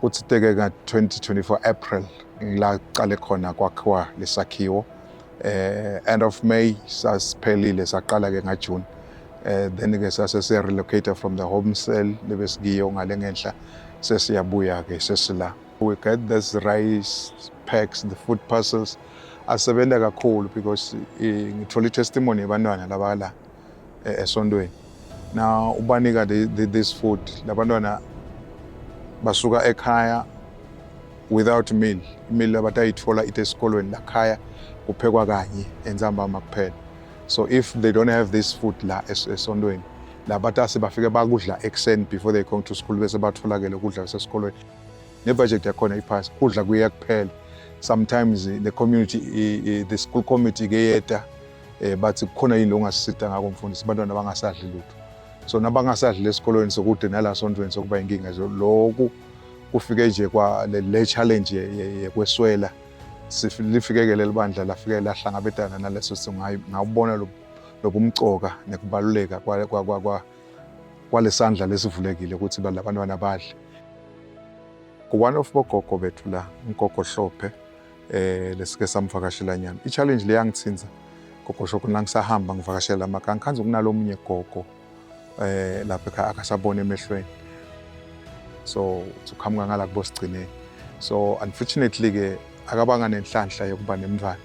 Kuthi teke ka 2024 April ngila qale khona kwakhiwa lesakhiwo eh end of May sasiphelile saqala ke nga June eh then ke sase se relocate from the home cell lebesikiyo ngale ngenhla sesiyabuya ke sesila we get this rice packs the food parcels asebenza kakhulu because ngithola testimony yabantwana laba la eh, esontweni now ubanika the, the, this food labantwana basuka ekhaya without meal imili abatayithola ite esikolweni lakhaya kuphekwa kanye entsambama kuphela so if they don't have this food la esontweni labatase bafike bakudla ekuseni before they come to school bese batholakele ukudla kwasesikolweni nebudget yakhona iphasi kudla kuye kuphela sometimes the community the school committee keyeta eh bathi kukhona yini longasisita ngako mfundisi abantwana bangasadli lutho so nabangasadli lesikolweni sokude nala sontweni sokuba inkinga nje lokhu kufike nje kwa le challenge yekweswela lifikekele libandla lafike lahlangabetana naleso simo ngawubona lobumcoka nekubaluleka kwalesandla lesivulekile ukuthi labantwana badle one of bogogo bethu la ugogo Hlophe eh lesike samvakashela nyana i challenge le yangithinza gogo shoko la ngisahamba ngivakashela amaka ngikhanza kunalomunye gogo eh lapha ekhaya akasabona emehlweni so uqhamuka ngala kubo sigcineni so unfortunately ke akabanga nenhlanhla yokuba nemntwana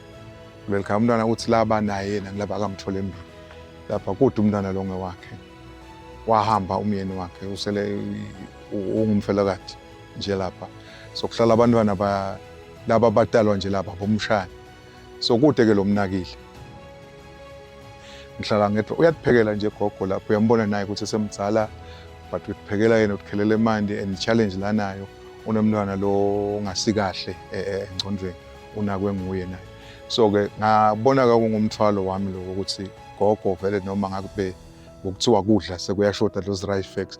kuleli khaya umntwana uthi laba naye yena ngilaba akamthole embili lapha kude umntwana lo ngewakhe wahamba umyeni wakhe usele ungumfelokati nje lapha so kuhlala abantwana ba laba abatalwa nje lapha bomshana so kude ke lomnakile ngihlala ngedwa uyakuphekela nje gogo lapho uyambona naye ukuthi semdzala but uyiphekela yena ukukhelela imandi and challenge lanayo unomntwana lo ongasikahle e, e, engcondweni unakwe nguye naye so ke ngabona ka kungumthwalo wami lokho ukuthi gogo vele noma ngakube ngokuthiwa kudla sekuyashoda those rice facts